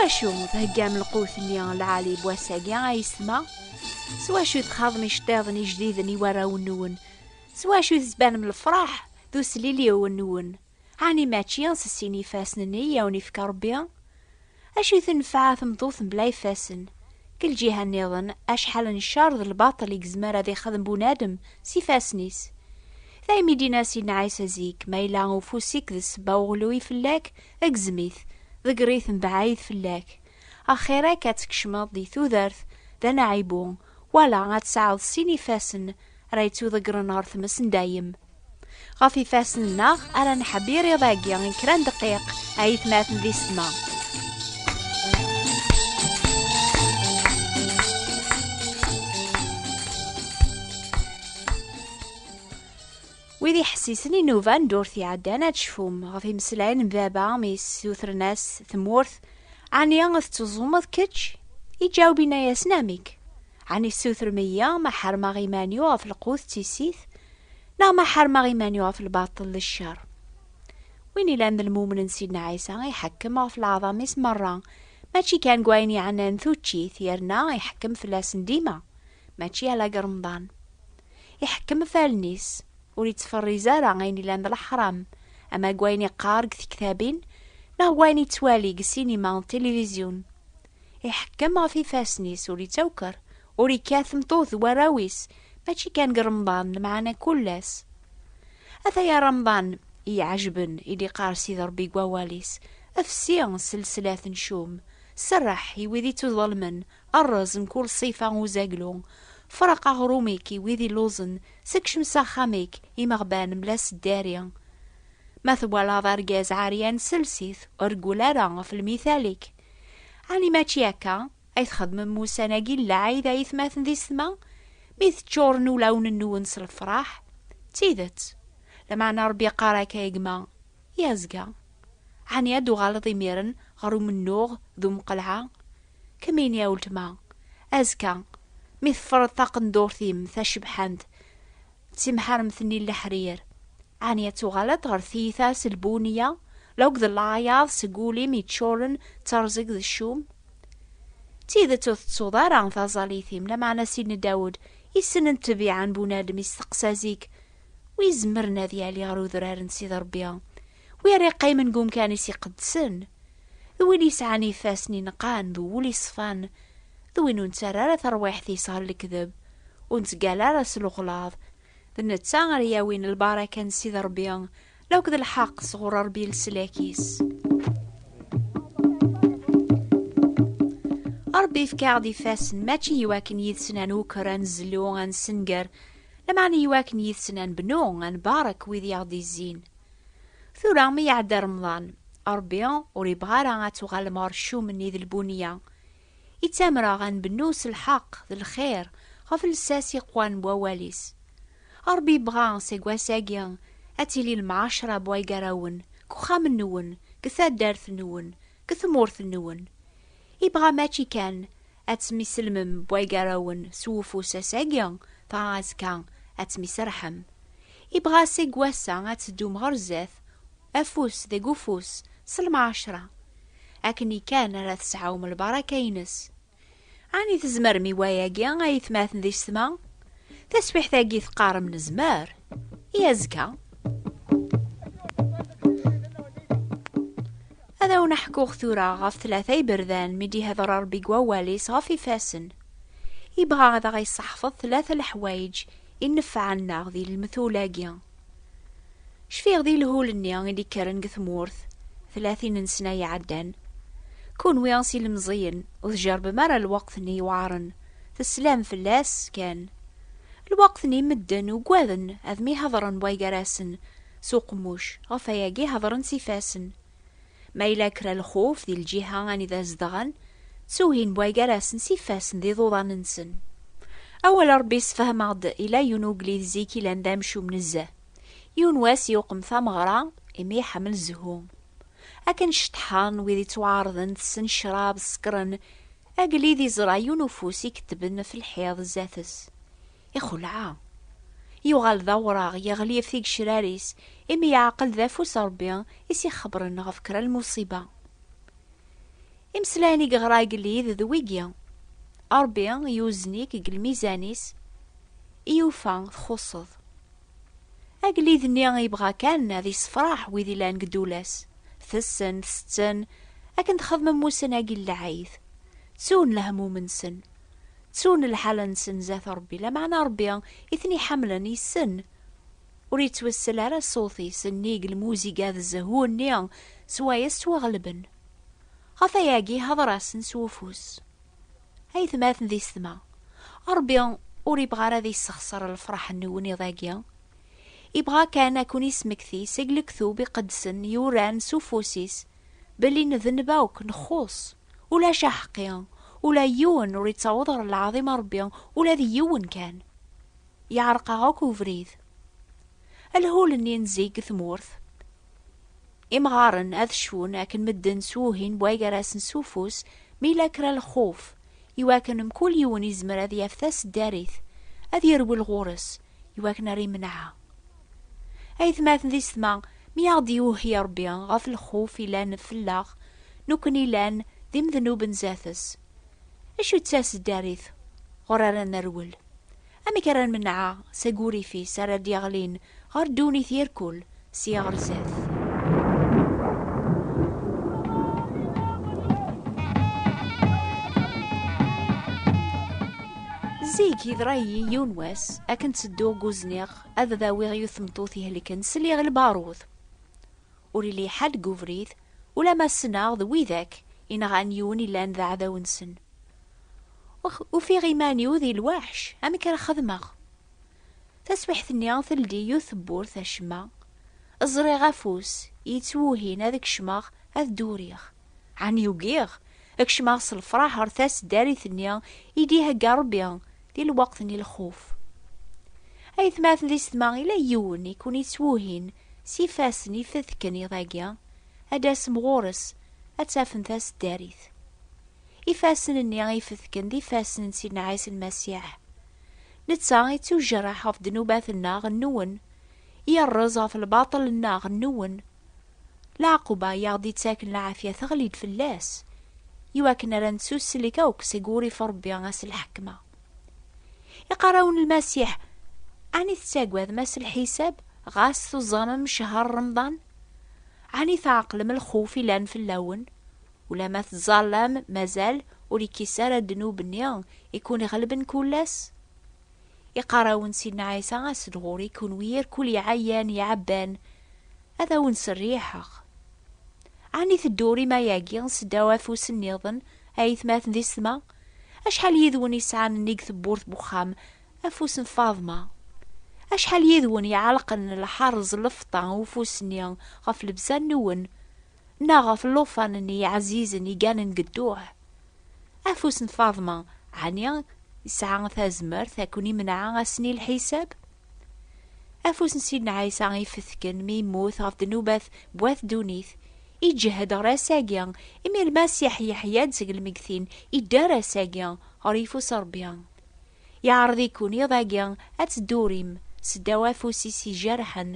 wacu theggam lqut-nni lɛali n wass-agi ay yesma? S wacu txaḍem iceṭṭiḍen ijdiden i warraw-nwen? S wacu tettbanem lefṛaḥ d usliliw-nwen? Ɛni mačči s sin ifassen-nni i awen-ifka Ṛebbi? Acu i tenfeɛ tmeṭṭut mebla ifassen? Deg lǧiha nniḍen, acḥal n ccer d lbaṭel i yezmer ad ixdem bunadem s ifassen-is. Daymi i d-yenna Sidna Ɛisa zik, Ma yella ufus-ik d ssebba uɣelluy fell-ak, gzem-it, ḍegger-it mebɛid fell-ak. Axir-ak ad tkecmeḍ di tudert d anaɛibu, Wala ad tesɛeḍ sin ifassen ara yettuḍeggren ɣer tmes n dayem. Ɣef ifassen-nneɣ ara neḥbir iḍ-agi n kra n dqiq, ay itmaten di ssma. Wid iḥessisen i nnuba n ddurt iɛeddan ad tecfum ɣef imeslayen n baba mi yessutren-as tmurt, Ɛni ad tetteẓẓumeḍ kečč? Iǧaweb inna-yasen Amik? Ɛni tessutrem-iyi ma ḥermeɣ iman-iw ɣef lqut d tissit, neɣ ma ḥermeɣ iman-iw ɣef lbaṭel d ccer? Win ilan d lmumen n Sidna Ɛisa iḥekkem ɣef leɛḍam-is merra, mačči kan deg wayen yeɛnan tuččit, yerna iḥekkem fell-asen dima, mačči ala deg Remḍan. iḥekkem ɣef allen-is, ur ittferriz ara ayen ilan d leḥram, ama deg wayen iqqar deg tektabin neɣ deg wayen yettwali deg sinima d tilivizyu-n. Iḥekkem ɣef ifassen-is, ur ittawker, ur ikkat tmeṭṭut d warraw-is, mačči kan deg Remḍan, lmeɛna kull ass. Ataya Remḍan i iɛejben, i d-iqqar Sidi Rebbi deg wawal-is, Fsi s lsela-a tencum, serreḥ i wid ittuḍelmen, Rrez mkul ṣṣifa uzaglu. Freq aɣrum-ik i wid illuẓen, sekcem s axxam-ik imeɣban mla s ddari. Ma twalaḍ argaz ɛeryan sels-it, ur reggul ara ɣef lmithal-ik. Ɛni mačči akka ay txedmem ussan-agi n lɛid a itmaten di setma, mi teččuren ulawen-nwen s lefraḥ? D tidet! Lameɛna Rebbi iqqar-ak a gma, I azga? Ɛni ad d-tuɣaleḍ imiren ɣer umennuɣ d umqelɛa? Kemmini a weltma, azekka mi teffreḍ taqendurt-im tacebḥant d timḥaremt-nni n leḥrir, ɛni ad tuɣaleḍ ɣer tiyita s lbuniya la akked laɛyaḍ seg wul-im yeččuren d terẓeg d ccum? D tidet ur tettuḍ ara taẓallit-im, lameɛna Sidni Dawed yessnen ṭṭbiɛa n bunadem, yesteqsa zik, Wi izemren ad yali ɣer udrar n Sidi Ṛebbi? Wi ara yeqqimen deg umkan-is iqedsen, d win yesɛan ifassen ineqqan d wul iṣfan, d win ur nettarra ara tarwiḥt-is ɣer lekdeb, ur nettgalla ara s lexlaḍ. D netta ara yawin lbaraka n Sidi Ṛebbi, la akk d lḥeqq sɣur Ṛebbi i leslak-is. Ṛebbi yefka-aɣ-d ifassen, mačči iwakken yid-sen ad nuker, ad nezlu, ad nessenger, lameɛna iwakken yid-sen ad nbennu, ad nbarek wid i aɣ-d-izzin. Tura mi iɛedda remḍan, Ṛebbi ur ibɣa ara ad tuɣalem ɣer ccum-nni d lbuneyya. Ittamreɣ ad nbennu s lḥeqq d lxir ɣef llsas iqwan n wawal-is. Ṛebbi ibɣa seg wass-agi ad tili lemɛacṛa n waygaṛawen deg uxxam-nwen, deg taddart-nwen, deg tmurt-nwen. Ibɣa mačči kan ad temiselmem bwagarawen s wufus ass-agi, dɣa azekka ad temiserḥem. Ibɣa seg wass-a ad teddum ɣer zdat, afus deg ufus, s lmɛacra. Akkenni kan ara tesɛum lbaraka-ines. Ɛni tzemrem i wayagi a yetmaten di ssma? Taswiḥt-agi teqqarem nezmer i azekka. Ad awen-ḥkuɣ tura ɣef tlata iberdan mi d-ihder Rebbi deg wawal-is ɣef ifassen. Ibɣa ad aɣ-iseḥfeḍ tlata leḥwayeǧ i nnefɛen-aɣ di lmetul-agi. Cfiɣ di lhul-nni i d-ikkren deg tmurt tlatin n sna iɛeddan. Kunwi s ilemẓiyen ur tjerbem ara lweqt-nni yewɛren, teslam fell-as kan. Lweqt-nni medden ugaden ad mihadren way-gar-asen s uqemmuc, ɣef wayagi hedren s ifassen. Ma yella kra lxuf di lǧiha anida zedɣen, ttuhin wa gar-asen s ifassen d iḍuḍan-nsen. Awal n Ṛebbi yessefhem-aɣ-d yella yiwen ugellid zik yellan d amcum nezzeh. Yiwen wass yuqem tameɣra imi iḥemmel zzhu. Akken ceṭṭḥen wid ittwaɛerḍen tessen ccṛab, ṣekkṛen, agellid iẓra yiwen ufus ikettben ɣef lḥiḍ zdat-s. Ixelɛa. Yuɣal d awraɣ, yeɣli ɣef tigecrar-is, imi yeɛqel d afus n Rebbi i s-ixebren ɣef kra n lmuṣiba. Imeslayen i yeɣra agellid d wigi, Rebbi yuzen-ik deg lmizan-is i yufa txuṣṣeḍ. Agellid-nni yebɣa kan ad yessefraḥ wid yellan deg ddula-s, tessen, tsetten, akken txedmem ussan-agi n lɛid, ttun lehmum-nsen, ttun lḥal-nsen zdat Ṛebbi, lameɛna Ṛebbi i ten-iḥamlen yessen. Ur yettwessel ara ṣṣut-is, nnig lmuziga d zzhu-nni s waya s ttwaɣelben. Ɣef wayagi ihdeṛ-asen s wufus. A yetmaten di setma, Ṛebbi ur ibɣa ara ad yessexṣer lefṛaḥ n weniḍ-agi. Ibɣa kan ad ken-ismekti seg lektub iqedsen yuran s ufus-is belli nedneb akk, nxuṣṣ. Ulac aḥeqqi, ula yiwen ur yettaweḍ ɣer lɛaḍim a Rebbi, ula d yiwen kan. Yeɛreq-aɣ akk ubrid. Alhul-nni n zik deg tmurt. Imɣaren ad cfun akken medden s wuhin bway gar-asen s ufus mi yella kra lxuf, iwakken mkul yiwen yezmer ad yaf taseddarit, ad yerwel ɣur-s, iwakken ar imenɛa. Aytmaten di setma, mi aɣ-d-yuhi Rebbi ɣef lxuf yellan fell-aɣ, nukken ilan d imednuben zdat-s. Acu d taseddarit ɣur ara nerwel? Amek ara nmenɛa seg wurrif-is ara d-yeɣlin ɣer ddunit irkul sya ɣer zdat? Zik, yeḍra-yi yiwen wass, akken ttedduɣ deg uzniq ad d-awiɣ yiwet tmeṭṭut ihelken, sliɣ i lbarud. Ur yelli ḥedd deg ubrid, ulamma ssneɣ d widak i nɣan yiwen yellan d aɛdaw-nsen. Ufiɣ iman-iw di lweḥc, amek ara xedmeɣ? Taswiḥt-nni teldi yiwet tewwurt acemma, ẓriɣ afus yettwuhin ad kecmeɣ ad d-uriɣ. Ɛni ugiɣ? Ad kecmeɣ s lefraḥ ɣer tasdarit-nni i d-ihegga Rebbi di lweqt n lxuf. A yetmaten di setma, yella yiwen i ken-ittwuhin s ifassen ifetken iḍ-agi, ad d-tasem ɣur-s, ad tafem tasdarit. Ifassen-nni ifetken d ifassen n Sidna Ɛisa Lmasiḥ. Netta ittujreḥ ɣef ddnubat-nneɣ, nwen, yerreẓ ɣef lbaṭel-nneɣ, nwen, Lɛaquba i aɣ-d-ittaken lɛafya teɣli-d fell-as, i wakken ara nettusslik akk seg wurrif Rebbi a s lḥekma. Iqarrawen n Lmasiḥ, Ɛni tettagadem a s lḥisab ɣas tuẓamem cehher Remḍan? Ɛni tɛeqlem lxuf ilan fell-awen, ulamma tettẓallam mazal ur ikkis ara ddnub-nni i kkun-iɣelben kullas? Iqarawen Sidna Ɛisa asedɣur i kunwi irkul iɛayan iɛabban ad awen serriḥeɣ. Ɛni teddur i mayagi seddaw afus nniḍen a yetmaten di setma? Acḥal yidwen isɛan nnig tewwurt n uxxam afus n Faḍma? Acḥal yidwen iɛalqen lḥerz lefṭa ufus-nni ɣef lebza nwen? neɣ ɣef llufan n yiɛzizen iganen deg dduḥ. Afus n Faḍma, ɛni yesɛa tazmert ad ken-imneɛ ass n lḥisab? Afus n Sidna Ɛisa ifetken mi yemmut ɣef ddnubat n wat ddunit, iǧhed ɣer ass-agi, imi Lmasiḥ yeḥya-d seg lmeggtin, idder ass-agi ɣer yeffus n Ṛebbi. Yeɛreḍ-iken iḍ-agi ad teddurim seddaw afus-is ijerḥen,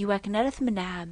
iwakken ara tmenɛem.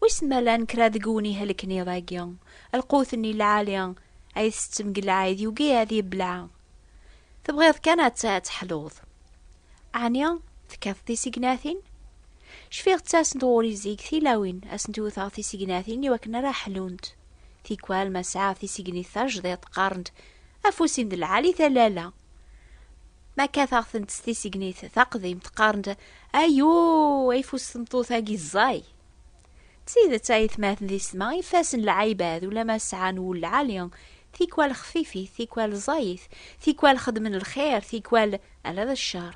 Wissen ma llan kra deg wnihelken iḍ-agi, lqut-nni lɛali ay tettettem deg lɛid yugi ad yebleɛ. Tebɣiḍ kan ad teḥluḍ. Ɛni tekkateḍ tisignatin? Cfiɣ ttasent ɣur-i zik tilawin, ad sent-iwteɣ tisignatin i wakken ara ḥlunt. Tikwal ma sɛiɣ tisignit tajdiṭ qqarent afus-in d lɛali talala. Ma kkateɣ-tent s tisegnit taqdimt qqarent ayuu ayfus tmeṭṭut-agi ẓẓay. D tidet ayetmaten di ssma ifassen lɛibad ulamma sɛan wul lɛali, tikwal xfifit, tikwal ẓẓayit, tikwal xedmen lxir, tikwal ala d ccer.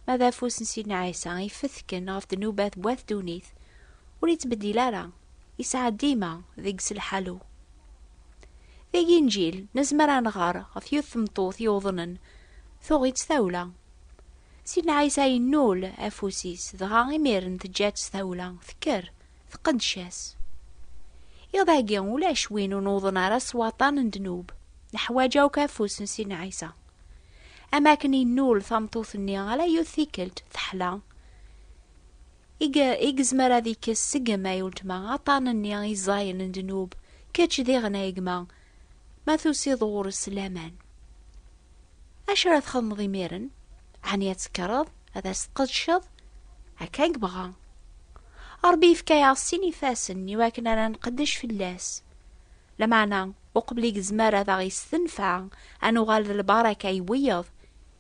Ma d afus n Sidna Ɛisa ifetken ɣef ddnubat n wat ddunit, ur yettbeddil ara. Yesɛa dima deg-s lḥalu. Deg Inǧil, nezmer ad nɣer ɣef yiwet tmeṭṭut yuḍnen, tuɣ-itt tawla. Sidna Ɛisa yennul afus-is, dɣa imiren teǧǧa-tt tawla, tekker, tqeddec-as. Iḍ-agi, ulac win ur nuḍen ara s waṭṭan n ddnub, neḥwaǧ akk afus n Sidna Ɛisa. Am akken yennul tameṭṭut-nni ala yiwet tikkelt, teḥla, I ge, i gezmer ad ikkes seg m ay uletma aṭṭan nni i ẓẓayen n ddnub, kečč diɣen ay gma, ma tusiḍ ɣur-s laman. Acu ara txedmeḍ imiren? Ɛni ad tekkreḍ ad as-tqedceḍ? Akka i yebɣa. Ṛebbi yefka-aɣ sin ifassen i wakken ara nqeddec fell-as. Lameɛna, uqbel i gezmer ad aɣ-yessenfeɛ ad nuɣal d lbaraka i wiyeḍ,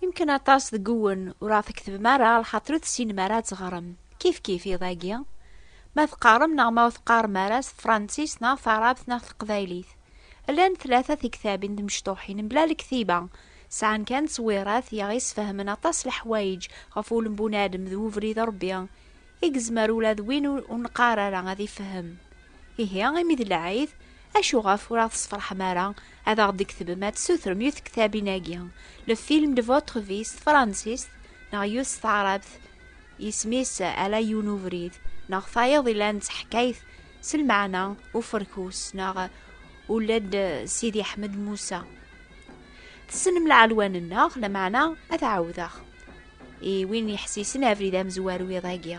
Yemken aṭas deg uwen ur aɣ-tkettbem ara lxaṭer ur tessinem ara ad teɣrem. Kifkif iḍ-agi. Ma teqqarem neɣ ma ur teqqarem ara s tefransist neɣ taɛrabt neɣ teqbaylit. Llan tlata tiktabin timecṭuḥin mebla lektiba, sɛan kan ttwirat i aɣ-yesfehmen aṭas n leḥwayeǧ ɣef wulem n bunadem d ubrid n Rebbi i yezmer ula d win ur neqqar ara ad ifehhem. Ihi, imi d lɛid, Acuɣef ur aɣ-tesferḥem ara ad aɣ-d-tketbem ad tessutrem yiwet tektabin-agi, Le film de votre vie s tefransist neɣ yiwet s taɛrabt isem-is Ala yiwen ubrid neɣ tayeḍ yellan d taḥkayt s lmeɛna uferkus neɣ Ula-d Sidi Ḥmed Musa. Tessnem lɛelwan-nneɣ, lameɛna ad t-ɛawdeɣ i win yeḥsisen abrid amezwaru iḍ-agi.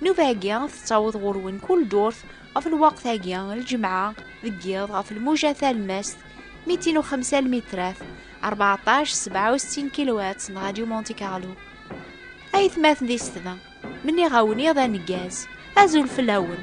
Nnuba-agi tettaweḍ ɣur-wen kul ddurt ɣef lweqt-agi, lǧemɛa, deg yiḍ, ɣef lmuja talemmast, mitin u xemsa lmitrat, rbeɛṭac sebɛa u settin kilowatts n Radyu Monte Carlo. Aytmaten di Setba, menniɣ-awen iḍ aneggaz, azul fell-awen!